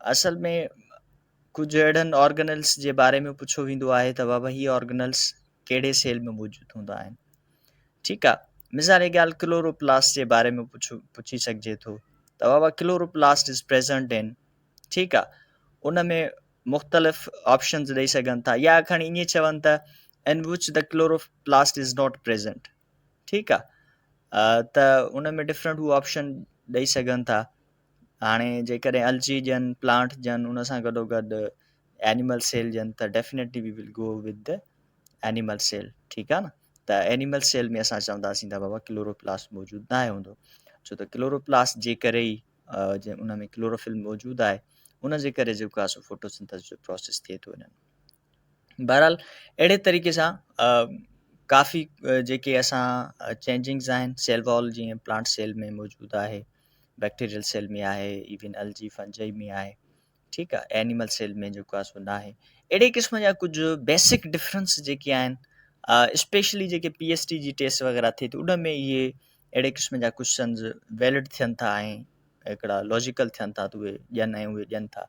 اصل ۾ ڪجهه اهڙن آرگنلس جي باري ۾ پڇيو ويندو آهي ته بابا هي آرگنلس ڪهڙي سيل ۾ موجود هوندا آهن ٺيڪ آ مثال جي ڳالهه ڪلوروپلاسٽ جي باري ۾ پڇو پڇي سگهجي ٿو ته بابا ڪلوروپلاسٽ از پريزنٽ ان ٺيڪ آ ان ۾ مختلف آپشنز ڏيئي سگهن ٿا يا کڻي ائين چون ته in which the chloroplast is not present ٺيڪ آ ته ان ۾ ڊفرنٽ هو آپشن ڏيئي سگهن ٿا هاڻي جيڪڏهن الجي ڏين پلانٽ ڏين ان سان گڏو گڏ اينيمل سيل ڏين ته definitely we will go with the animal cell ٺيڪ آ نه ته اينيمل سيل ۾ اسان چونداسين ته بابا ڪلوروپلاس موجود ناهي هوندو ڇو ته ڪلوروپلاس جي ڪري ئي جي ان ۾ ڪلوروفل موجود آهي ان جي ڪري جيڪو آهي سو فوٽوسنٿس جو پروسيس ٿئي ٿو انهن بهرحال اهڙي طريقي سان ڪافي جيڪي اسان چينجنگز آهن سيل وال جيئن پلانٽ سيل ۾ موجود آهي بيڪٽيريل سيل ۾ آهي ايون الجي فنجي ۾ آهي ٺيڪ آهي اينيمل سيل ۾ جيڪو آهي سو نه آهي اهڙي قسم جا ڪجهه بيسڪ ڊفرنس جيڪي آهن اسپيشلي جيڪي پي ايس ٽي جي ٽيسٽ وغيرہ ٿئي ٿي ان ۾ اهي اهڙي قسم جا ڪوشچنز ويلڊ ٿين ٿا ۽ هڪڙا لاجيڪل ٿين ٿا ته اهي ڏين ۽ اهي ڏين ٿا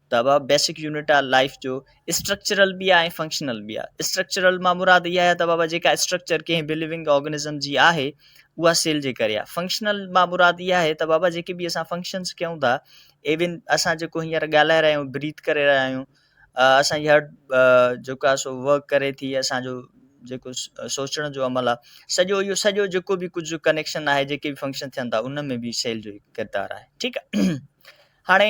ته بابا بيسڪ يونٽ آ لائيف جو اسٽرڪچرل به آ ۽ فنڪشنل به آ اسٽرڪچرل مان مراد اها آهي ته بابا جيڪا اسٽرڪچر ڪنهن به لوينگ آرگنزم جي آهي اها سيل جي ڪري آ فنڪشنل مان مراد اها آهي ته بابا جيڪي به اسان فنڪشنز ڪيون ٿا ايون اسان جيڪو هينئر ڳالهائي رهيا آهيون بريٿ ڪري رهيا آهيون اسان جي هارٽ جيڪو آ سو ورڪ ڪري ٿي اسان جو جيڪو سوچڻ جو عمل آ سڄو اهو سڄو جيڪو به ڪجهه ڪنيڪشن آهي جيڪي به فنڪشن ٿين ٿا ان ۾ به سيل جو ڪردار آهي ٺيڪ آ هاڻي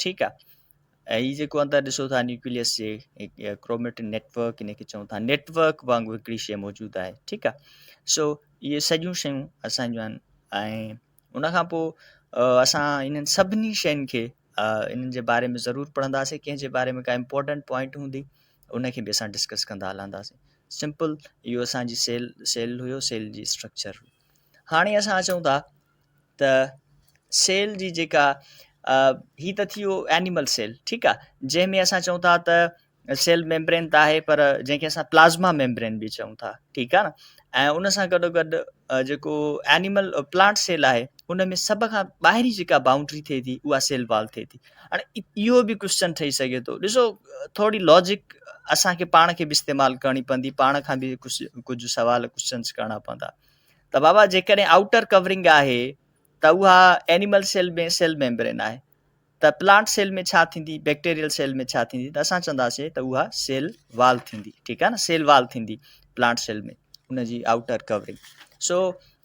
ٺيڪ آ ۽ هي جيڪو اندر ڏسو ٿا نيوڪليس جي ڪروميٽن نيٽورڪ ان کي چون ٿا نيٽورڪ وانگر هڪڙي شيء موجود آهي ٺيڪ آ سو اهي سڄيون شيون اسان جون آهن ۽ ان کان پوء اسان انهن سڀني شين کي انهن جي باري ۾ ضرور پڙهنداسين ڪنهن جي باري ۾ ڪا امپورٽنٽ پوائنٽ هوندي ان کي به اسان ڊسڪس ڪندا هلنداسين سمپل اهو اسانجي سيل سيل هيو سيل جي اسٽرڪچر هاڻي اسان اچون ٿا ته سيل جي جيڪا هي ته ٿي ويو اينيمل سيل ٺيڪ آ جنهن ۾ اسان چئون ٿا ته سيل ميمبرين ته آهي پر جنهن کي اسان پلازما ميمبرين به چئون ٿا ٺيڪ آ نه ۽ ان سان گڏو گڏ جيڪو اينيمل پلانٽ سيل آهي ان ۾ سڀ کان ٻاهرين جيڪا باونڊري ٿئي ٿي اها سيل وال ٿئي ٿي هاڻي اهو به ڪوشچن ٺهي سگهي ٿو ڏسو ٿوري لاجڪ اسان کي پاڻ کي به استعمال ڪرڻي پوندي پاڻ کان به ڪجهه ڪجهه سوال ڪوشچنس ڪرڻا پوندا ته بابا جيڪڏهن آئوٽر ڪورنگ آهي ته اها اينيمل سيل ۾ سيل ميمبرين آهي ته پلانٽ سيل ۾ ڇا ٿيندي بيڪٽيريل سيل ۾ ڇا ٿيندي ته اسان چونداسي ته اها سيل وال ٿيندي ٺيڪ آهي نه سيل وال ٿيندي پلانٽ سيل ۾ ان جي آئوٽر ڪورنگ سو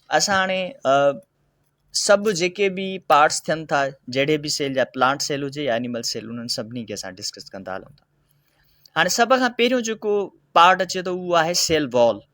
اسان هاڻي سڀ جيڪي به پارٽس ٿين ٿا جهڙي به سيل جا پلانٽ سيل هجي يا اينيمل سيل انهن سڀني کي اسان ڊسڪس ڪندا هلون ٿا هاڻي سڀ کان پهريون جيڪو پارٽ اچي ٿو اهو آهي سيل وال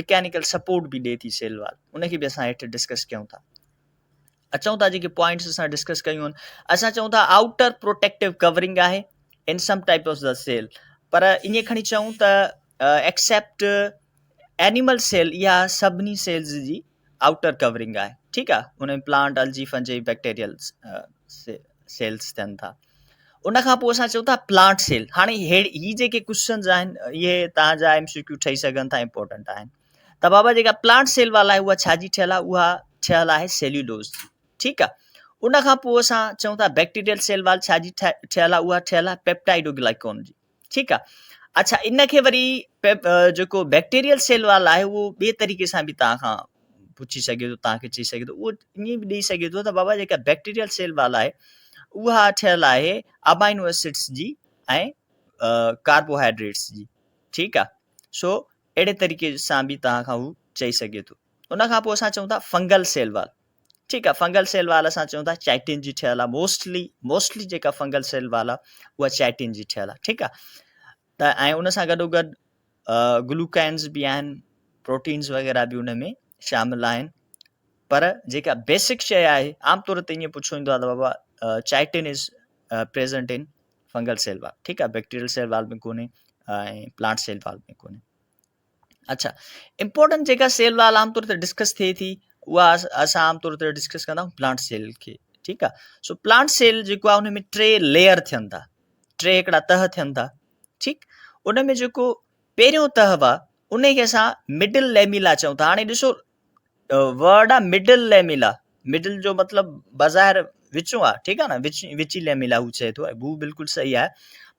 مڪينيڪل سپورٽ به ڏي ٿي سيل وال ان کي به اسان هيٺ ڊسڪس ڪيون ٿا اچون ٿا جيڪي پوائنٽس اسان ڊسڪس ڪيون آهن اسان چون ٿا آؤٽر پروٽيڪٽو ڪورنگ آهي in some type of the cell پر ائين کڻي چون ته ایڪسپٹ اینیمل سيل اها سڀني سيلز جي آئوٽر ڪورنگ آهي ٺيڪ آهي ان ۾ plant algae fungi bacterial cells ٿين ٿا ان کان پوء اسان چون ٿا پلانٽ سيل هاڻي هي جيڪي ڪوشچنز آهن اهي تان جا ايم سي ڪيو ٺهي سگهن ٿا امپورٽنٽ آهن ته بابا جيڪا پلانٽ سيل والا آهي اها ڇا جي ٺهيل آهي اها ٺهيل آهي سيليولوز جي ٺيڪ آهي ان کان پوء اسان چون ٿا بيڪٽيريل سيل وال ڇا جي ٺهيل آهي اها ٺهيل آهي پيپٽائڊو گلائڪون جي ٺيڪ آ اڇا ان کي وري جيڪو بيڪٽيريل سيل وال آهي اهو ٻي طريقي سان به توهان کان پڇي سگهي ٿو توهان کي چئي سگهي ٿو اهو ائين به ڏئي سگهي ٿو ته بابا جيڪا بيڪٽيريل سيل وال آهي اها ٺهيل آهي امائنو اسيڊس جي ۽ ڪاربوهائيڊريٽس جي ٺيڪ آ سو اهڙي طريقي سان به توهان کان هو چئي سگهي ٿو ان کان پوء اسان چئون ٿا فنگل سيل وال ٺيڪ آ فنگل سيل وال اسان چون ٿا چائٽين جي ٺهيل آ موسٽلي موسٽلي جيڪا فنگل سيل وال آ اها چائٽين جي ٺهيل آ ٺيڪ آ ته ۽ ان سان گڏو گڏ گلوڪائنز به آهن پروٽينز وغيرها به ان ۾ شامل آهن پر جيڪا بيسڪ شيء آهي عام طور تي ائين پڇو ويندو آهي ته بابا chitin is present in fungal cell wall ٺيڪ آ بيڪٽيريل سيل وال ۾ ڪونهي ۽ پلانٽ سيل وال ۾ ڪونهي اڇا امپورٽنٽ جيڪا سيل وال عام طور تي ڊسڪس ٿئي ٿي اها اسان عام طور تي ڊسڪس ڪندا آهيون پلانٽ سيل کي ٺيڪ آ سو پلانٽ سيل جيڪو آهي ان ۾ ٽي ليئر ٿين ٿا ٽي هڪڙا تهه ٿين ٿا ٺيڪ ان ۾ جيڪو پهريون تهه وا ان کي اسان مڊل ليميلا چون ٿا هاڻي ڏسو ورڊ آ مڊل ليميلا مڊل جو مطلب بظاهر وچون آ ٺيڪ آ نه وچي ليميلا هو چئي ٿو هو بلڪل صحيح آ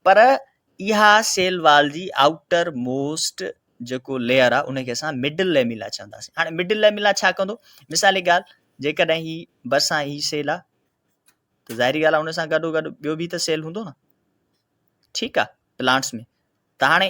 پر اها سيل وال جي آئوٽر موسٽ جيڪو ليئر آ ان کي اسان مڊل ليميلا چونداسين هاڻي مڊل ليميلا ڇا ڪندو مثال جي ڳالهه جيڪڏهن هي برسان هي سيل آ ته ظاهري ڳالهه آ ان سان گڏو گڏ ٻيو به ته سيل هوندو نه ٺيڪ آ پلانٽس ۾ ته هاڻي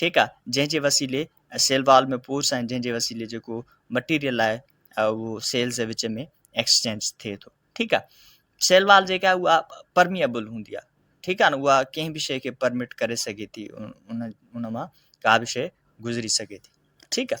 ٺيڪ آ جنهن جي وسيلي سيل وال ۾ پورس آهن جنهن جي وسيلي جيڪو مٽيريل آهي اهو سيلز جي وچ ۾ ايڪسچينج ٿئي ٿو ٺيڪ آ سيل وال جيڪا آهي اها پرميبل هوندي آهي ٺيڪ آ نه اها ڪنهن به شيء کي پرمٽ ڪري سگهي ٿي ان ان مان ڪا به شيء گذري سگهي ٿي ٺيڪ آ